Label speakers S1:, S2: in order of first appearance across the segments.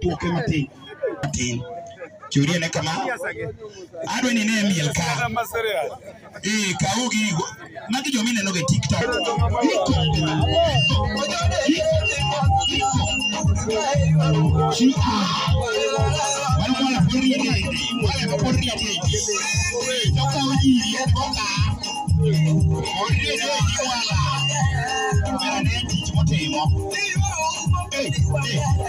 S1: duoke matin matin churie ne kama adwa ni ne miel ka eh kaw gigo magi joma ineno ga e tiktok Thank you.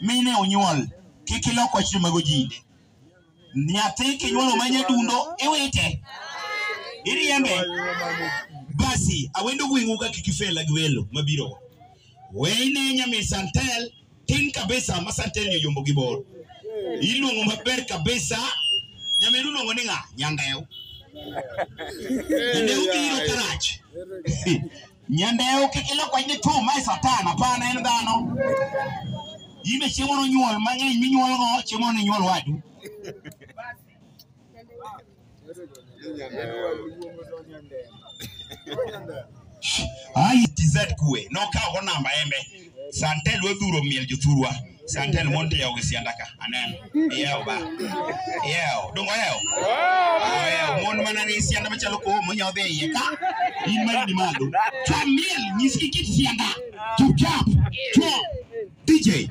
S1: mine onyuol kik ilok wach joma gojinde nyathi kinyuolo ma nyadundo iwite iriembe basi awendo gweng'u ka kik ifela gi welo mabiro weyne nyami santel tin kabisa ma santel ni oyombo gi bor iluongo maber kabisa nyamiru luongo ni ng'a nyandeu nyandeu biro karach Nyandeo kik ilok wach ni two mae satan hapana en dhano. Yimbe chiemo nonyuol mang'eny minyuolgo chiemo ni nyuol wadu. Ai TZ kue nokawo namba embe. Santel wadhuro miel jothurwa. Santel monte yawo gi sianda ka. Aneno. Iyawo ba. Iyawo. Dongo yawo. Iyawo. Mon mana ni sianda machalo kowo monyawo dhi e iye ka. In ma in malo. Chwa miel nyisgi kit sianda. Chupchap. Chwa. DJ.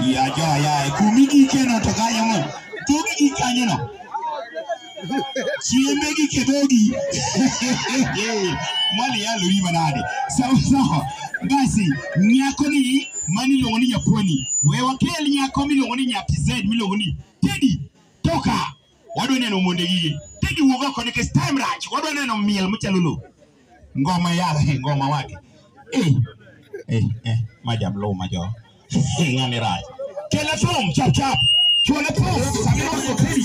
S1: Ya jo ya kumi gi keno to kanyo mo. Kumi gi kanyo no. Chiembe gi kedogi. Mali ya lori manade. Sawa sawa. Basi nyako ni mani iluongo ni Japoni. We wakel nyako miluongo ni Nyati Z miluongo ni Teddy Toka. wadwa neno monde gigi tedi wuog oko nikech time rach wadwa neno miel machalo lo ngoma yala he ngoma wake eh eh eh majam lo majo ngani rach kela thum chap chap chuola thum samira okeli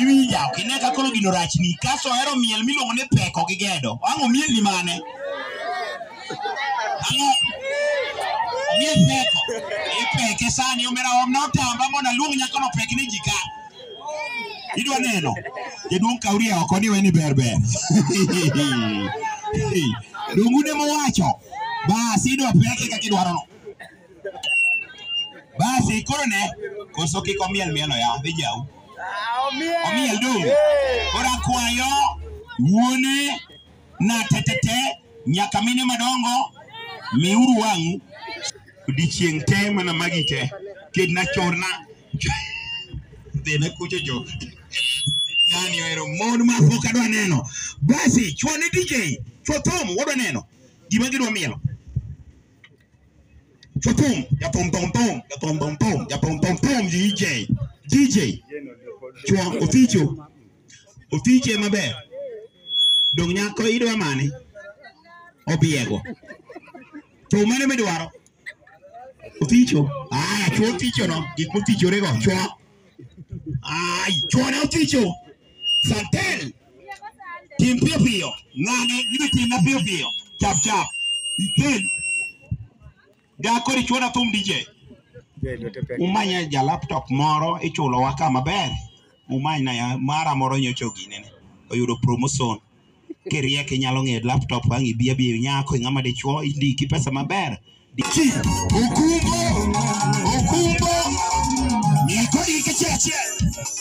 S1: Iwinja, ok ine ka koro gino rachni. Kaso ohero miel miluongo ni peko gi gedo. Wang' omielni mane? nie peko ipeke sani omera omna otamba mondo aluong nyako no pek ni jika idwa neno jaduong' kauria oko ni weni ber ber dongu ne mowacho basi idwa peke kaka idwaro no basi koro ne koso kik omiel mielo ya dhi jau omiel dongu koro akwayo wuone na tetete nyaka mine madongo miuru wang'u odiechieng' te mana magi te kedna chorna dhina kucho jo ng'ani ohero mon ma pok adwa neno basi chwo ne DJ chwo thum wadwa neno gima gidwa mielo chwo thum jathum thum thum jathum thum thum jathum thum thum DJ DJ chwo oficho otiche maber dong nyako idwa mane obiego to mane midwaro oticho aya chwo oticho no gik motichore go chwo ai chwo ne oticho santel tim piyo piyo ng'ane gima timna piyo piyo chap chap ikel ga kori chuona thum DJ umanya ja laptop moro ichulo wa kama ber umany na ya mara moro nyocho gine ne oyudo promotion kiriye kinyalo ng'e laptop ang ibia bi nyako ng'ama dichuo indiki pesa maber Chi, Okumbo, Okumbo, Nikodi Kicheche.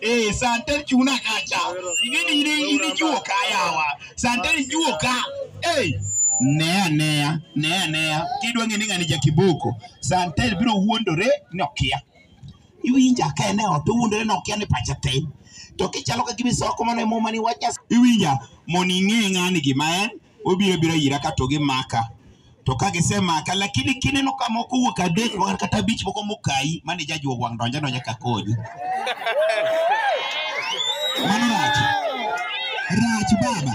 S1: Eh, santar cuna kaca. Ini ni ini ini juo kayawa. Santar juo ka. Eh, nea nea nea nea kidwa ng'e ni ng'ani jakiboko santel biro wuondore ni okia iwinja ka en e ot owuondore ni okia ni pache tin to kichalo ka gima isoko mana e muma ni wach Nyasaye. iwinja mondo ing'e ng'ani gima en obiro bira ira ka to gimaka to ka gisemaka lakini kineno ka moko wuok adek moko kata abich moko mokayi mane jajuo wang' donjo adonja ka konyi mano rach rach baba